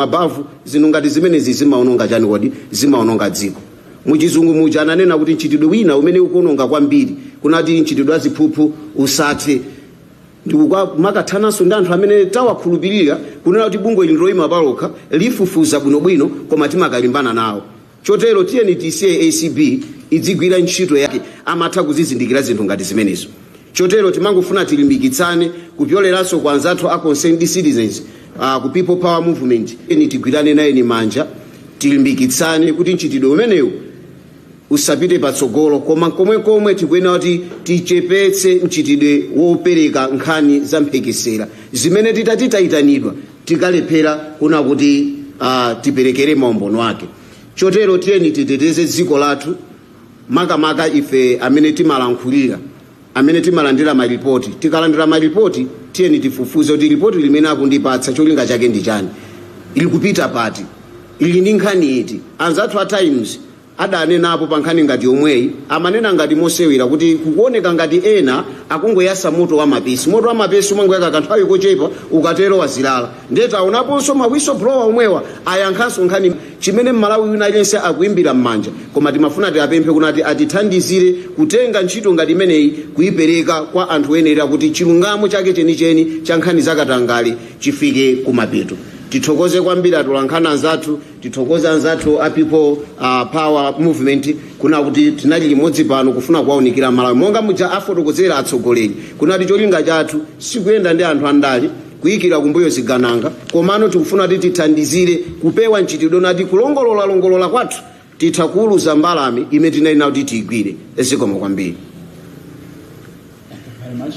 mabavu zinthu ngati zimenezi zimaononga chani kodi zimaononga dziko muchizungu muja ananena kuti mchitidwe wina umene ukuononga kwambiri kunati mchitidwe wa ziphuphu usathe ndikumakalimbananso ndi anthu amene tawakhulupirira kunena kuti bungwe ili ndiloyima palokha lifufuza bwinobwino koma timakalimbana nawo Chotero tiyeni tisiye acb idzigwira ntchito yake, amatha kuzizindikira zinthu ngati zimenezo. Chotero timangofuna tilimbikitsane, kupyoleranso kwa anzathu a Concerned Citizens, a ku People Power Movement, tiyeni tigwiranenayeni manja, tilimbikitsane kuti mchitidwe umenewu usapite patsogolo, koma nkomwekomwe tikuyenera kuti tichepetse mchitidwe wopereka nkhani za mphekesera zimene titati tayitanidwa, tikalephera kuna kuti uh, tiperekere maumboni ake chotero tiyeni titeteze dziko lathu makamaka ife amene timalankhulira amene timalandira maripoti tikalandira maripoti tiyeni tifufuze kuti ripoti limene akundipatsa cholinga chake ndi chani likupita pati ili ndi nkhani iti anzathu a times adanenapo pa nkhani ngati yomweyi amanena ngati mosewera kuti kukuoneka ngati ena akungoyasa moto wa mapesi. Moto wa mapesi umangoyaka kanthawi kochepa ukatero wazilala. Ndiye taonaponso ma whistleblower omwewa ayakhanso nkhani imene Mmalawi wina aliyense akuimbira mmanja. Koma timafuna tiapemphe kunati atithandizire kutenga ntchito ngati imeneyi kuipereka kwa anthu oyenera kuti chilungamo chake chenicheni cha nkhani za katangale chifike kumapeto. Tithokoze kwambiri atolankhani anzathu tithokoze anzathu a people uh, power movement kuna kuti tinali limodzi pano kufuna kuwaunikira amalawi monga muja afotokozera atsogoleri kunati cholinga chathu sikuyenda ndi anthu andale kuyikira kumbuyo zigawenga komano tikufuna kuti tithandizire kupewa mchitidwe nati kulongolola longolola kwathu titha kuulutsa mbalame imene tinali nayo kuti tiyigwire zikomo kwambiri Thank you very much.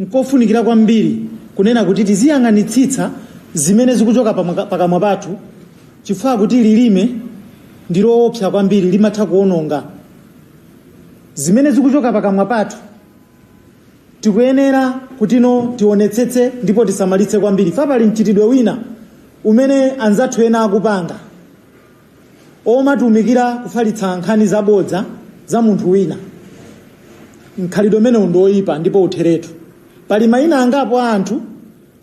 Nkofunikira kwambiri kunena kuti tiziyang'anitsitsa zimene zikuchoka pakamwa pathu chifukwa akuti lilime ndi loopsa kwambiri, limatha kuononga. Zimene zikuchoka pakamwa pathu tikuyenera kutino tionetsetse ndipo tisamalitse kwambiri. Fa pali mchitidwe wina umene anzathu ena akupanga. omatumikira kufalitsa nkhani zabodza za munthu wina. Mkhalidwe umenewu ndi woipa ndipo utheretu. Pali mayina angapo a anthu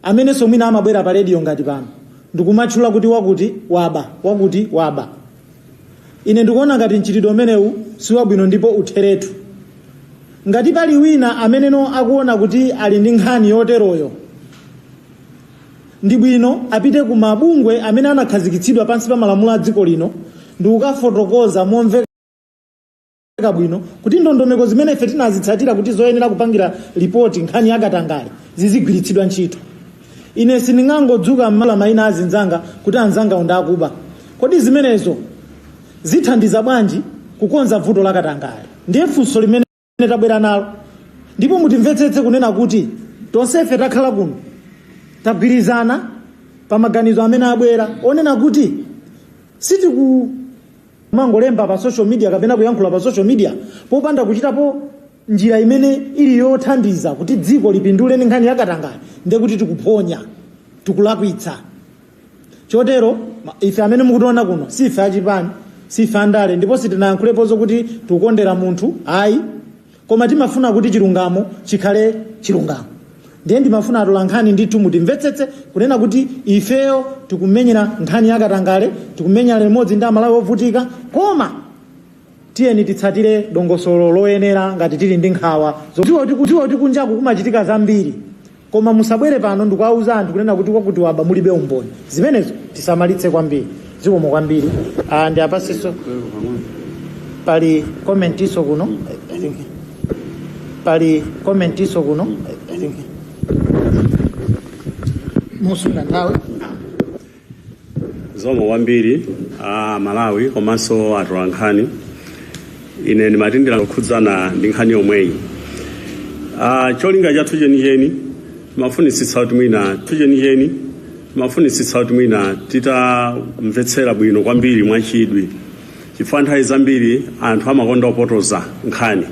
amenenso mwina amabwera pa rediyo ngati pano ndikumatchula kuti wakuti waba, wakuti waba. Ine ndikuona ngati mchitidwe umenewu si wabwino ndipo utheretu. Ngati pali wina ameneno akuona kuti ali ndi nkhani yoteroyo, Ndi bwino apite ku mabungwe amene anakhazikitsidwa pansi pa malamulo a dziko lino ndi kukafotokoza momveka bwino kuti ndondomeko zimene ife tinazitsatira kuti zoyenera kupangira lipoti nkhani ya katangale zizigwiritsidwa ntchito. Ine sindingangodzuka mmawa maina a anzanga kuti anzangawo ndi akuba. Kodi zimenezo zithandiza bwanji kukonza vuto la katangale? Ndiye funso limene. limene tabwera nalo ndipo mutimvetsetse kunena kuti tonsefe takhala kuno tagwirizana pa maganizo amene abwera onena kuti sitikumangolemba pa social media kapena kuyankhula pa social media popanda kuchitapo njira imene ili yothandiza kuti dziko lipindule ndi nkhani yakatangale ndekuti tikuphonya tikulakwitsa chotero ife amene mukutiona kuno si ife achipani si ife andale ndipo sitinayankhulepo zokuti tikukondera munthu ayi koma timafuna kuti chilungamo chikhale chilungamo ndiye ndimafuna atola nkhani ndithu mutimvetsetse kunena kuti ifeyo tikumenyera nkhani yakatangale tikumenyera limodzi ndi amalawi ovutika koma tiyeni titsatire dongosolo loyenera ngati tili ndi nkhawa zodziwa kuti kunjaku kumachitika zambiri Koma musabwere pano ndikuwauza anthu kunena kuti wakuti waba mulibe umboni. Zimenezo tisamalitse kwambiri. Zikomo kwambiri. Ah ndiapansonso pali commentinso kuno. I think pali commentinso kuno. I think musunga nthawi. zikomo kwambiri a malawi komanso atola nkhani ine ndimatsindira kukhudzana ndi nkhani yomweyi Ah, cholinga chathu chenicheni timafunitsitsa kuti mwina thu chenicheni timafunitsitsa kuti mwina titamvetsera bwino kwambiri mwachidwi chifukwa nthawi zambiri anthu amakonda kupotoza nkhani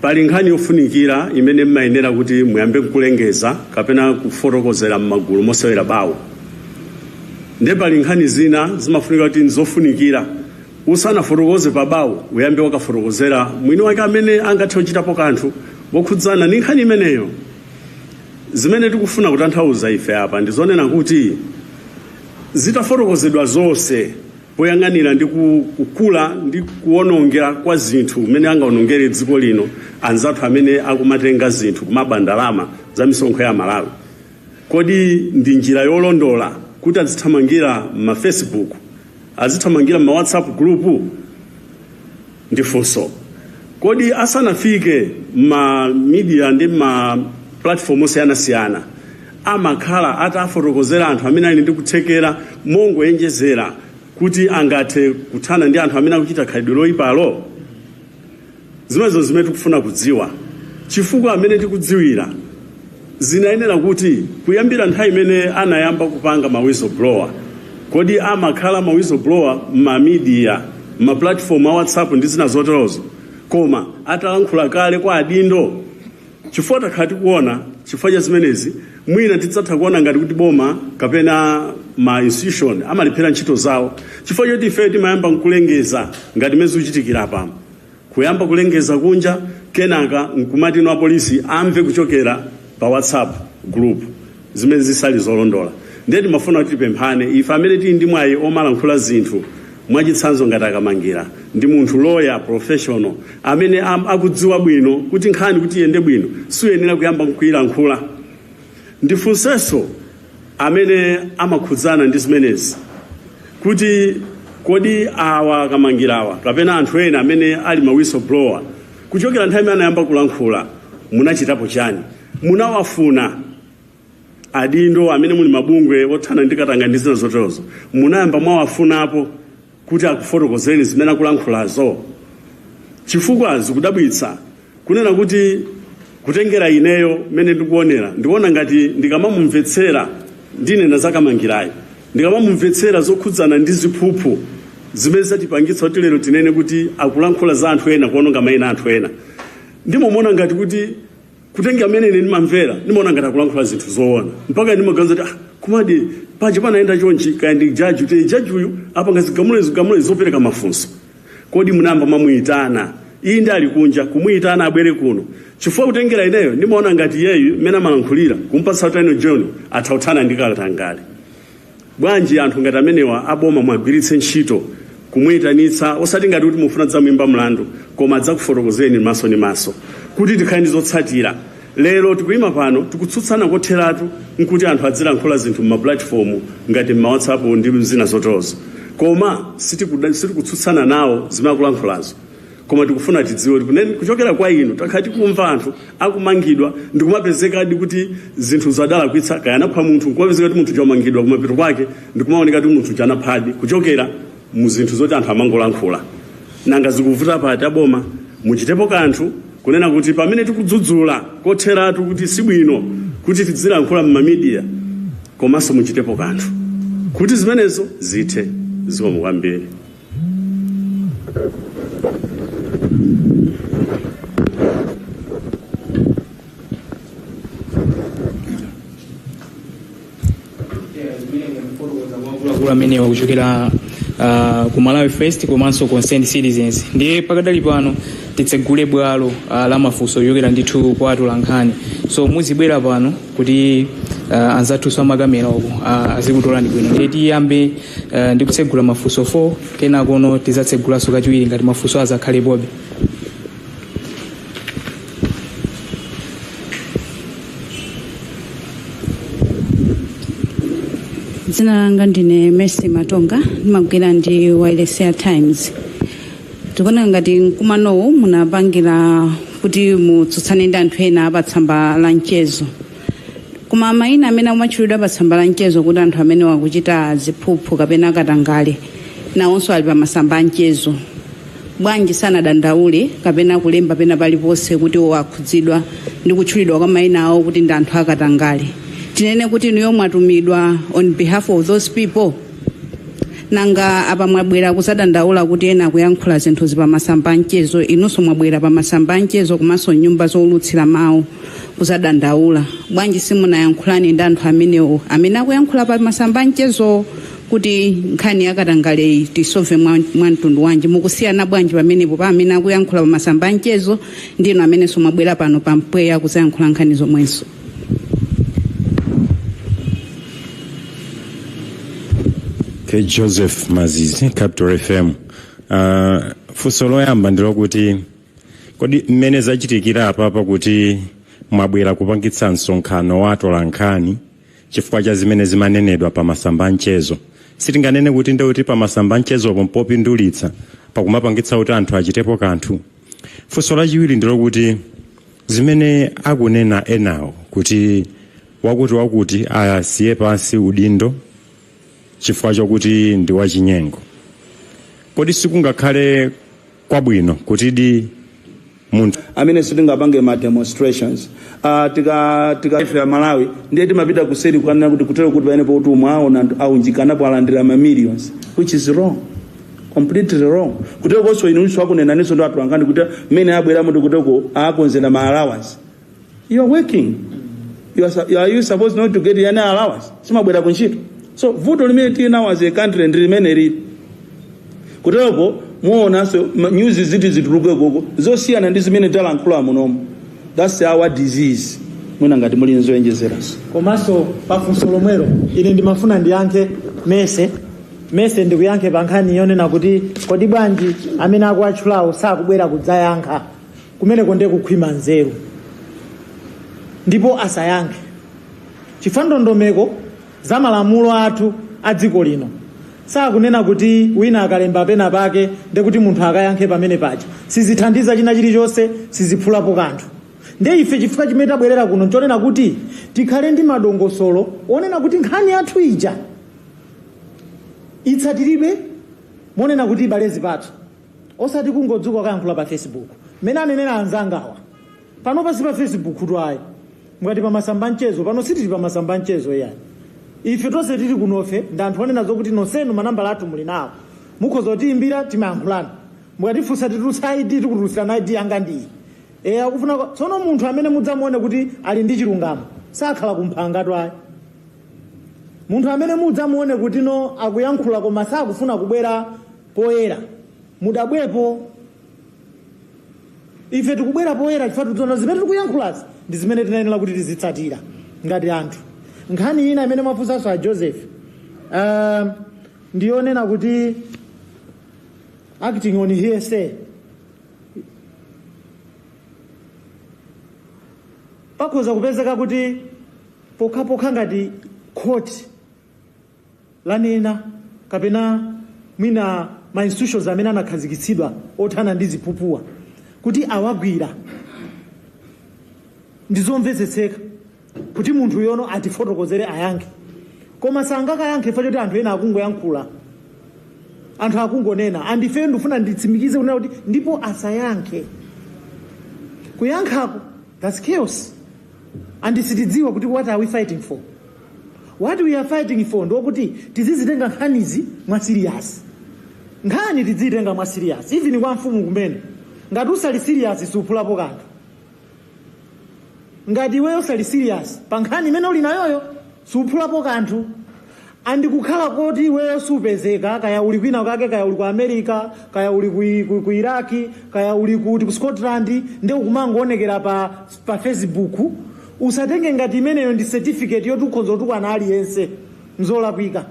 Pali nkhani yofunikira imene mmayenera kuti muyambe kulengeza kapena kufotokozera mmagulu mosewera bawo. Nde pali nkhani zina zimafunika kuti nzofunikira usanafotokoze pa bawo uyambe wakafotokozera mwini wake amene angathe kuchitapo kanthu wokhudzana ndi nkhani imeneyo. Zimene tikufuna kutanthauza ife apa ndizonena kuti zitafotokozedwa zonse, poyang'anira ndi kukula ndi kuwonongeka kwa zinthu umene angawonongere dziko lino anzathu amene akumatenga zinthu kumaba ndalama za misonkho ya Malawi. Kodi ndi njira yolondola kuti azithamangira ma Facebook, azithamangira ma WhatsApp group? Ndi funso. Kodi asanafike ma media ndi ma platform osiyanasiyana amakhala atafotokozera anthu amene ali ndi kuthekera mongoyenjezera kuti angathe kuthana ndi anthu amene akuchita khalidwe loyipalo zimenezo zimene tikufuna kudziwa chifukwa mmene tikudziwira zinayenera kuti kuyambira nthawi imene anayamba kupanga ma whistleblower kodi amakhala ma whistleblower ma media ma platform a whatsapp ndi zina zoterozo koma atalankhula kale kwa adindo Chifukwa takhala tikuona chifukwa cha zimenezi mwina tidzatha kuona ngati kuti boma kapena ma institution amalephera ntchito zawo chifukwa choti ife timayamba nkulengeza ngati mmene zikuchitikira apa kuyamba kulengeza kunja kenaka nkumati no apolisi amve kuchokera pa whatsapp group zimene zisali zolondola ndiye timafuna kuti tipemphane ife amene tili ndi mwayi omalankhula zinthu mwachitsanzo ngati akamangira ndi munthu lawyer professional amene akudziwa bwino kuti nkhani kuti iyende bwino siuyenera kuyamba kuyilankhula ndifunsenso amene amakhudzana ndi zimenezi kuti kodi awa akamangirawa kapena anthu ena amene ali ma whistleblower kuchokera nthawi imene anayamba kulankhula munachitapo chani munawafuna adindo amene muli mabungwe othana ndi katangale ndi zina zoterozo munayamba mwawafunapo kuti akufotokozeni zimene akulankhulazo chifukwa zikudabwitsa kunena kuti kutengera ineyo mmene ndikuonera ndikuona ngati ndikamamumvetsera ndinena za akamangirayi ndikamamumvetsera zokhudzana ndi ziphuphu zimene zatipangitsa kuti lero tinene kuti akulankhula za anthu ena kuononga maina a anthu ena ndimamuona ngati kuti kutengera mmene ine ndimamvera ndimaona ngati akulankhula zinthu zoona mpaka ndimaganiza kuti komadi paja panayenda chonchi kaya ndi jaji kuti jaji uyu apanga zigamulo zopereka mafunso kodi munayamba mwamuyitana iye ndi ali kunja kumuyitana abwere kuno chifukwa kutengera ineyo ndimaona ngati iyeyu mmene amalankhulira kumpatsa utano john atha kuthana ndi katangale Bwanji anthu ngati amenewa aboma muagwiritse ntchito kumuitanitsa osati ngati kuti mufuna kudzamuyimba mlandu koma adzakufotokozeni maso ndi maso kuti tikhale ndi zotsatira. Lero tikuyima pano tikutsutsana kotheratu nkuti anthu adzilankhula zinthu mmapulatifomu ngati mma WhatsApp ndi zina zoterozo koma sitikutsutsana nawo zimene akulankhulazo. koma tikufuna tidziwe kuchokera kwa inu takhala tikumva anthu akumangidwa ndi kumapezeka kuti zinthu adalakwitsa kaya anapha munthu kumapezeka kuti munthu uja wamangidwa kumapeto kwake ndi kumaoneka kuti munthu uja anaphadi kuchokera mu zinthu zoti anthu amangolankhula nanga zikuvuta pati aboma muchitepo kanthu kunena kuti pamene tikudzudzula kotheratu kuti sibwino kuti tidzilankhula m'mamidiya komanso muchitepo kanthu kuti zimenezo zithe zikomo kwambiri amenewa kuchokera uh, ku malawi first komanso concerned citizens ndiye pakadali pano titsegule bwalo uh, la mafunso kuchokera ndithu kwa atolankhani so muzibwera pano kuti uh, anzathuso amakamera uko uh, azikutolani bwino ndiye tiyambe uh, ndi kutsegula mafunso 4 kenakono tidzatsegulanso kachiwiri ngati mafunso adzakhalepobe dzina langa ndine mercy matonga ndimagwira ndi wailesi ya times tikuona ngati mkumanowu munapangira kuti mutsutsane ndi anthu ena pa tsamba la mchezo koma mayina amene amatchulidwa pa tsamba la mchezo kuti anthu amene akuchita ziphuphu kapena katangale nawonso ali pa masamba a mchezo bwanji sanadandaule kapena kulemba pena paliponse kuti iwo akhudzidwa ndi kutchulidwa kwa mayina awo kuti ndi anthu akatangale tinene kuti inuyo mwatumidwa on behalf of those people nanga apa mwabwera kudzadandaula kuti ena akuyankhula zinthuzi pamasamba anchezo inunso mwabwera pamasamba anchezo komanso nyumba zoulutsira mawu kudzadandaula bwanji simunayankhulane ndi anthu amenewo amene akuyankhula pamasamba anchezo kuti nkhani yakatangaleyi tiisove mwa mwa mtundu wanji mukusiyana bwanji pamenepo pa amene akuyankhula pamasamba anchezo ndi inu amenenso mwabwera pano pampweya kudzayankhula nkhani zomwezo K. Joseph Mazizi, Capital FM. Uh, funso loyamba ndilokuti kodi mmene zachitikira apapa kuti mwabwera kupangitsa msonkhano wa atolankhani chifukwa cha zimene zimanenedwa pa masamba anchezo sitinganene kuti ndekuti pa masamba anchezopo mpopindulitsa pakumapangitsa kuti anthu achitepo kanthu Funso lachiwiri ndi lokuti zimene akunena enawo kuti wakuti wakuti asiye pansi udindo chifukwa chokuti ndi wachinyengo, kodi sikungakhale kwabwino kutidi munthu. amene sitingapange ma demonstrations ah tika tika ife a Malawi ndiye timapita kuseri kukanena kuti kutero kuti pamene potu mwaona anthu aunjikanapo alandira ma millions which is wrong. completely wrong kuterokonso inunso akunenaninso ndi atolankhani kuti mmene abwera muti kutero akudzera ma allowance you are working you are, su- you are, are you supposed not to get any allowance simabwera ku ntchito so vuto limene tili nalo as a country ndi limene lili kutereko muonanso ma news zizituluka koko zosiyana ndi zimene talankhula munomo that's our disease mwina ngati muli nzoonjezeranso komanso pafunso lomwelo ine ndimafuna ndiyankhe Mercy ndiyese ndikuyankhe pa nkhani yonena kuti kodi bwanji amene akuwatchulawo sakubwera kudzayankha kumeneko ndiye kukhwima nzeru ndipo asayankhe chifukwa ndondomeko za malamulo athu a dziko lino sakunena kuti wina akalemba pena pake ndekuti munthu akayankhe pamene paja sizithandiza china chilichonse siziphulapo kanthu ndiye ife chifukwa chimene tabwerera kuno nchonena kuti tikhale ndi madongosolo onena kuti nkhani yathu ija itsatiridwe monena kuti ibale zipatso osati kungodzuka ukayankhula pa facebook mmene anenera anzangawa pano si pa facebook tu ayi ngati pa masamba mchezo pano sitili pa masamba mchezo ayi ife tonse tili kunofe ndi anthu onena zokuti nonsenu manambala athu muli nawo mukhoza kutiyimbira timayankhulana mukatifunsa titulutsa id tikutulutsirana id yanga ndiyi e akufuna tsono munthu amene mudzamuone kuti ali ndi chilungamo sakhala kumphanga tu ayi Munthu amene mudzamuone kutino akuyankhula koma sakufuna kubwera poyera, mudabwepo. Ife tikubwera poyera chifukwa tikudziona zimene tikuyankhulazi ndi zimene tinayenera kuti tizitsatira ngati anthu. Nkhani ina imene mwafunsanso a Joseph uh, ndiyonena kuti acting on hearsay pakhoza kupezeka kuti pokhapokha ngati khoti lanena kapena mwina ma institutions amene anakhazikitsidwa othana ndi ziphuphuwa kuti awagwira ndi zomvetsetseka kuti munthuyo no atifotokozere ayankhe koma sangakayankhe chifukwa choti anthu ena akungoyankhula anthu akungonena and ifeyo ndifuna nditsimikize kunena kuti ndipo asayankhe kuyankhako That's chaos and sitidziwa kuti what are we fighting for. What we are fighting for ndi chakuti tizizitenga nkhanizi mwa serious. Nkhani tidzitenga mwa serious even kwa mfumu kumene ngati usali serious suphulapo kanthu. Ngati iweyo usali serious pa nkhani imene uli nayoyo suphulapo kanthu. And kukhala koti iweyo supezeka kaya uli kwina kake kaya uli ku America kaya uli ku, ku, ku Iraq kaya uli kuti, ku Scotland nde ukumangoonekera pa, pa Facebook usatenge ngati imeneyo ndi certificate yoti ukhoza kutukwana aliyense nzolakwika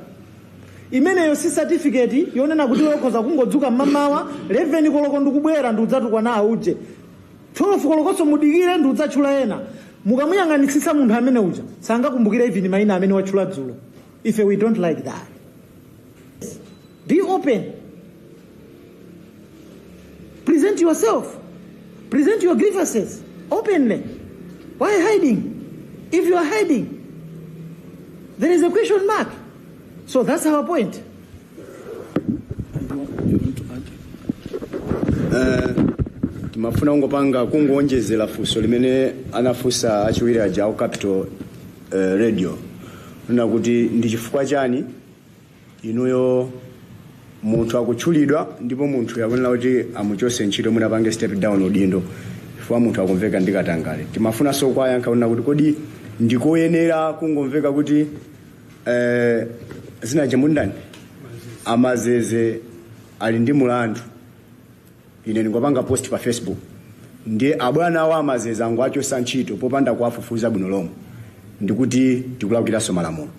imeneyo si certificate yonena kuti iwe ukhoza kungodzuka mmamawa 11 koloko ndikubwera ndi kudzatukwana auje 12 kolokoso mudikire ndidzatchula ena mukamuyang'anitsitsa munthu amene uja sangakumbukire even maina amene watchula dzulo ife we don't like that be open present yourself present your grievances openly why hiding if you are hiding there is a question mark so that's our point Eh, timafuna kungopanga kungoonjezera funso limene anafunsa achimwene aja aku capital eh, radio na kuti ndi chifukwa chani inuyo munthu akutchulidwa ndipo munthuyo akunena kuti amuchose ntchito mwina apange step down udindo chifukwa munthu akumveka ndi katangale timafunanso kuwayankha kunena kuti kodi ndikoyenera kungomveka kuti Eh, dzina che mundani amazeze ali ndi mulandu ine ndingopanga post pa facebook ndiye abwana awo amazeze angowachosa ntchito popanda kuwafufuza bwino lomwe ndikuti tikulakwiraso malamulo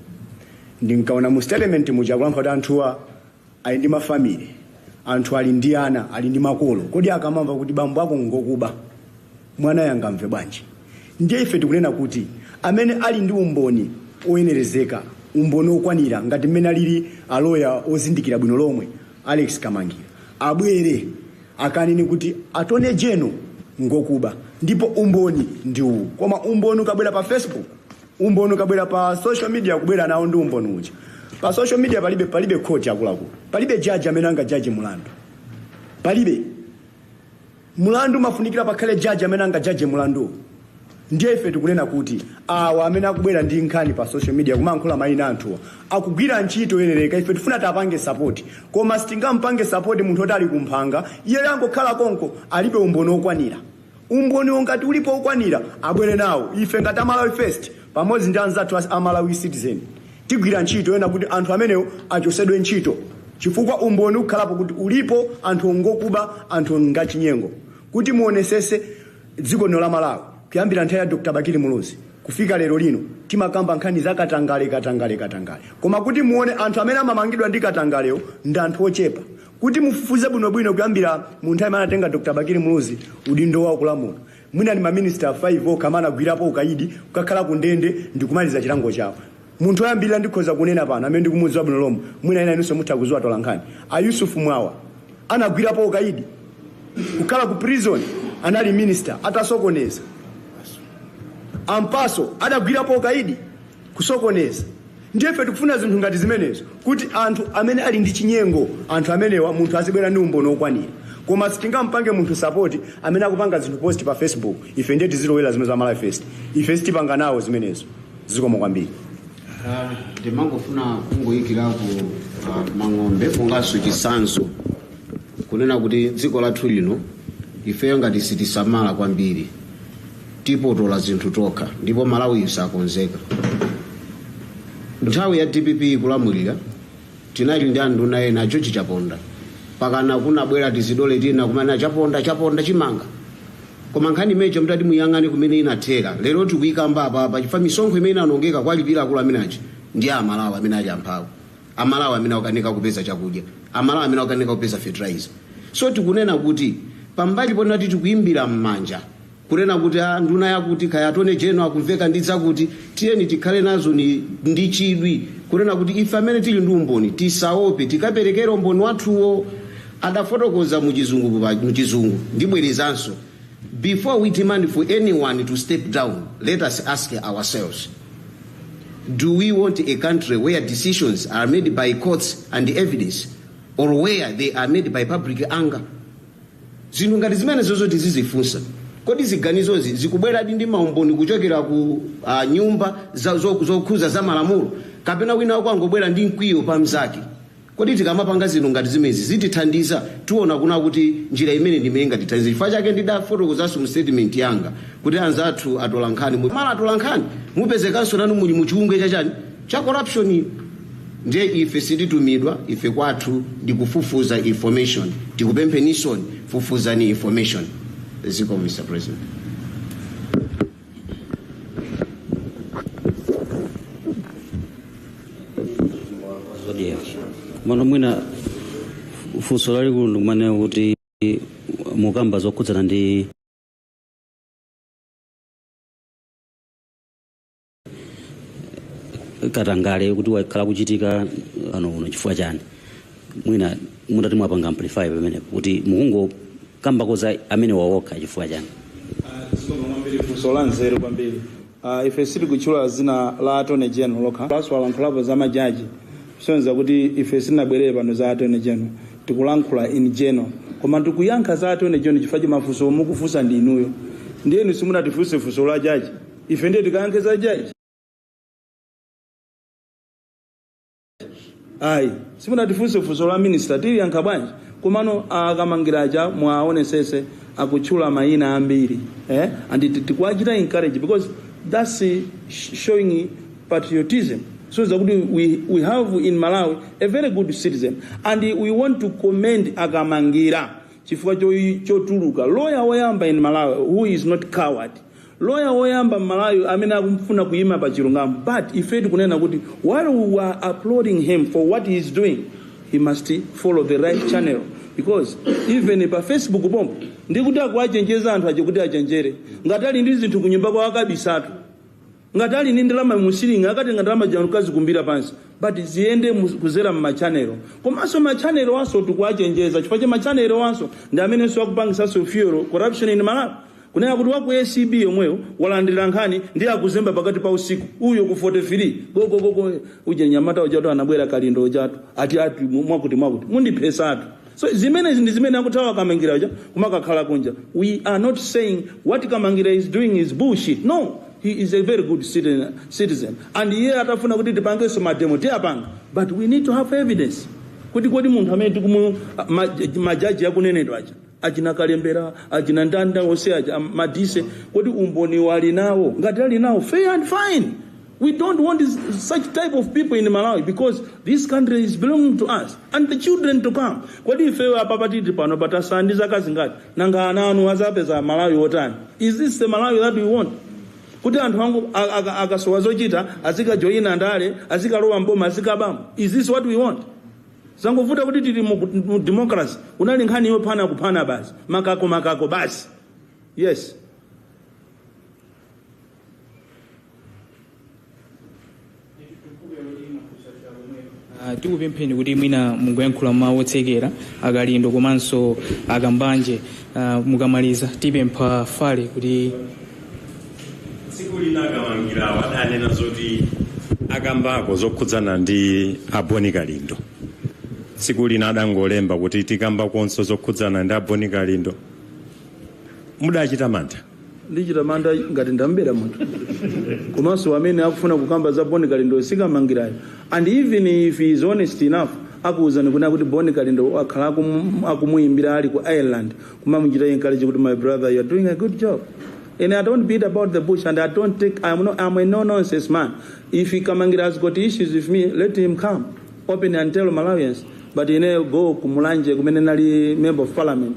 ndinkaona mu statement muja kulankhula kuti anthuwa ali ndi ma family, anthu ali ndi ana, ali ndi makolo, kodi akamamva kuti bambo ako ngokuba, mwanayo angamve bwanji? Ndiye ife tikunena kuti amene ali ndi umboni oyenerezeka, umboni okwanira ngati mmene alili a lawyer ozindikira bwino lomwe Alex Kamangila, abwere akanene kuti Attorney General ngokuba ndipo umboni ndi uwu. Koma umboni ukabwera pa Facebook, umboni ukabwera pa social media kubwera nawo ndi umboni uja pa social media palibe palibe court akuluakulu palibe jaji amene angajaje mulandu palibe mulandu umafunikira pakhale jaji amene angajaje mulandu ndiye ife tikunena kuti awa amene akubwera ndi nkhani pa social media kumankhula mayina anthuwa akugwira ntchito yoyenereka ife tifuna tipange sapoti koma sitingampange sapoti munthu oti ali kumphanga iye angokhala konko alibe umboni okwanira Umboniwo ngati ulipo wokwanira abwere nawo. Ife ngati a Malawi First pamodzi ndi anzathu a Malawi Citizen tigwira ntchito yona kuti anthu amenewo achosedwe ntchito chifukwa umboni ukhalapo kuti ulipo anthuwo ngokuba, anthuwo ngachinyengo kuti muonesese dziko lino la Malawi kuyambira nthawi ya Dr Bakili Muluzi kufika lero lino timakamba nkhani za katangale, katangale, katangale koma kuti muone anthu amene amamangidwa ndi katangalewo ndi anthu ochepa Kuti mufufuze bwinobwino kuyambira mu nthawi imene anatenga Dr. Bakili Muluzi udindo wao kulamula, mwina ndi maminister 5 okha amene anagwirapo ukaidi, kukakhala ku ndende ndi kumaliza chilango chawo. Munthu oyambirira ndikhoza kunena pano amene ndikumudziwa bwino lomwe, mwina ena inunso mutha kudziwa atolankhani, a Yusuf Mwawa anagwirapo ukaidi, kukhala ku prison, anali minister atasokoneza. A Mpasu anagwirapo ukaidi. kusokoneza ndiye ife tikufuna zinthu ngati zimenezo kuti anthu amene ali ndi chinyengo anthu amenewa munthu azibwera ndi umboni wokwanira koma sitingampange munthu sapoti amene akupanga zinthu post pa facebook ife ndiye tizilowera zimene za malawi first ife sitipanga nawo zimenezo zikomo kwambiri ndimangofuna kungoyikirako uh, mang'ombe monganso chitsanzo kunena kuti dziko lathu lino ifeyo ngati sitisamala kwambiri tipotola zinthu tokha ndipo malawiyu sakonzeka nthawi ya dpp ikulamulira tinali ndi anduna ena george chaponda pakana kunabwera tizidole tina kumana chaponda chaponda chimanga koma nkhani imeneyo mutati muyang'ane kumene inathera lero tikuyikamba apapa chifukwa misonkho imene inanongeka kuwalipira akulu amene aja ndi amalawi amene ali amphawi amalawi amene akukanika kupeza chakudya amalawi amene akukanika kupeza fertilizer so tikunena kuti pambali ponati tikuyimbira m'manja Kunena kuti a nduna yakuti kaya Attorney General akumveka ndi zakuti, tiyeni tikhale nazo ni ndi chidwi kunena kuti ife amene tili ndi umboni tisaope tikaperekera umboni wathuwo, adafotokoza muchizungu muchizungu. Ndibwerezanso, before we demand for anyone to step down, let us ask ourselves, Do we want a country where decisions are made by courts and evidence or where they are made by public anger? Zinthu ngati zimenezozo tizizifunsa. Kodi ziganizozi zikubweradi ndi maumboni kuchokera ku ah, nyumba za- zo- zokhuza za malamulo kapena wina wake wangobwera ndi mkwiyo pa mnzake? Kodi tikamapanga zinthu ngati zimenezi zitithandiza? Tiona kunena kuti njira imene ndi imene ingatithandize. Chifukwa chake ndidafotokozanso mu statement yanga kuti anzathu atola nkhani, mu- mala atola nkhani mupezekanso nanu muli mu chiwungwe cha chani Cha corruption ndiye ife sititumidwa ife kwathu ndi kufufuza information tikupempheninsoni fufuzani information zikomo Mr President zodiac mano mwina funso lalikulu ndi kumanena kuti mukamba zokhudzana ndi katangale kuti wakhala akuchitika ano uno chifukwa chani mwina mutati mwapanga amplify pamenepo kuti mukungokambako za amene wawokha chifukwa chani funso la nzeru kwambiri Ah, ife sitikutchula dzina la attorney general lokha apanso alankhulapo za majaji kusonyeza kuti ife sitinabwerere pano za attorney general tikulankhula in general koma tikuyankha za attorney general chifukwa cha mafunso mukufunsa ndi inuyo ndiye inu simunatifunse funso la jaji ife ndiye tikayankhe za jaji ayi simunatifunse funso la minista tiliyankha bwanji komano akamangira aja mwaonetsetsa akutchula mayina ambiri eh? and tikuwachita encourage because that's eh, sh- showing patriotism so that we, we, we have in malawi a very good citizen and we want to commend akamangira chifukwa cho- chotuluka loya woyamba in malawi who is not coward Lawyer woyamba m'Malawi amene akufuna kuyima pa chilungamo but ife tikunena kuti while we were applauding him for what he is doing he must follow the right channel because even pa Facebook pompo ndikuti akuwachenjeza anthu aja kuti achenjere ngati ali ndi zinthu kunyumba kwawo akabisetu. Ngati ali ndi ndalama mu ceiling akatenge ndalama zija n'kazikumbira pansi but ziyende mu- kuzera mma channel komanso ma channel-wonso tikuwachenjeza chifukwa cha ma channel-wonso ndi amenenso akupangisanso fuel corruption in Malawi kunena kuti waku ACB yomweyo walandira nkhani ndi akuzemba pakati pa usiku uyo ku 43 gogo gogo uje nyamata ujatu anabwera kalindo ujatu ati ati mwakuti mwakuti mundiphesatu So zimenezi ndi zimene akuthawa kamangira uja kumakakhala kunja. We are not saying what kamangira is doing is bullshit. No, he is a very good citizen. and iye atafuna kuti tipangenso mademo tiyapanga but we need to have evidence kuti kodi munthu amene tikumu- majaji akunenedwa aja achina kalembera achina mdeza onse aja am- madise kodi umboni wali nawo ngati ali nawo fair and fine We don't want such type of people in Malawi because this country is belonging to us and the children to come. Kodi ifeyo apa patili pano tatsala ndi zaka zingati nanga ana anu azapeza Malawi otani? Is this the Malawi that we want? kuti ana athu a- aka- akasowa zochita azikajoyina ndale azikalowa mboma azikabamo is this what we want zangovuta kuti tili mu mu democracy inali nkhani yophana kuphana basi makako makako basi yes Ah, tikupempheni kuti mwina mungoyankhula mawu otsekera a Kalindo komanso a Kambanje ah, mukamaliza tipempha fale kuti tsiku lina akamangirawo adanena zoti akambako zokhudzana ndi aboni kalindo tsiku lina adangolemba kuti tikambakonso zokhudzana ndi aboni kalindo mudachita mantha ndichita mantha ngati ndamubera munthu komanso amene akufuna kukamba za boni kalindo sikamangirayo and even if he is honest enough akuwuzani kunena kuti boni kalindo akhala akum- akumuyimbira ali ku ireland kumamuchita encourage kuti my brother you are doing a good job and i don't beat about the bush and i don't take i'm, no, I'm a no nonsense man if he kamangira has got issues with me let him come open and tell malawians but go kumulanje kumene nali member of parliament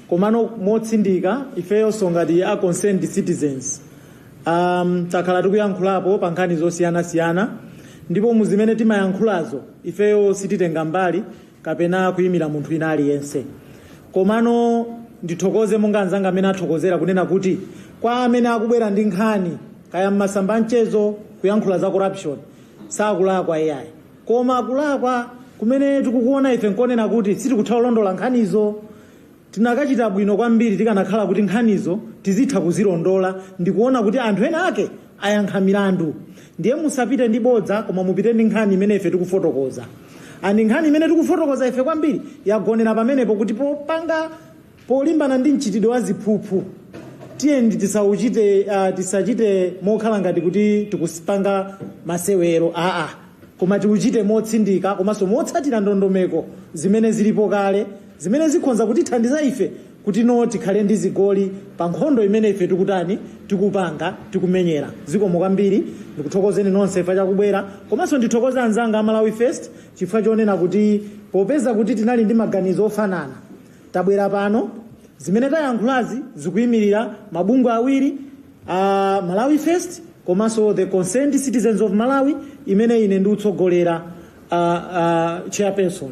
Komano motsindika ifeyonso ngati a Concerned Citizens um, takhala tikuyankhulapo pa nkhani zosiyana siyana ndipo mu zimene timayankhulazo ifeyo sititenga mbali kapena kuyimira munthu wina aliyense. Komano ndithokoze monga anzanga amene athokozera kunena kuti kwa amene akubwera ndi nkhani kaya m'masamba anchezo kuyankhula za corruption sakulakwa ayi koma kulakwa kumene tikukuona ife nkonena kuti sitikutha kulondola nkhanizo Tikanachita bwino kwambiri tikanakhala kuti nkhanizo tizitha kuzilondola ndikuona kuti anthu ena ake ayankha milandu. Ndiye musapite ndi bodza koma mupite ndi nkhani imene ife tikufotokoza. And nkhani imene tikufotokoza ife kwambiri yagonera pamenepo kuti popanga polimbana ndi mchitidwe wa ziphuphu tiyeni tisauchite, uh, tisachite mokhala ngati kuti tikupanga masewero aa. Koma tiuchite motsindika komanso motsatira ndondomeko zimene zilipo kale zimene zikhonza kutithandiza ife kuti no tikhale ndi zigoli pa nkhondo imene ife tikutani, tikupanga, tikumenyera. Zikomo kwambiri. Ndikuthokozeni nonse chifukwa cha kubwera. Komanso ndithokoze anzanga a Malawi First chifukwa chonena kuti popeza kuti tinali ndi maganizo ofanana, tabwera pano. Zimene tayankhulazi zikuimirira mabungwe awiri. Malawi First komanso the Concerned Citizens of Malawi imene ine ndikutsogolera a a chairperson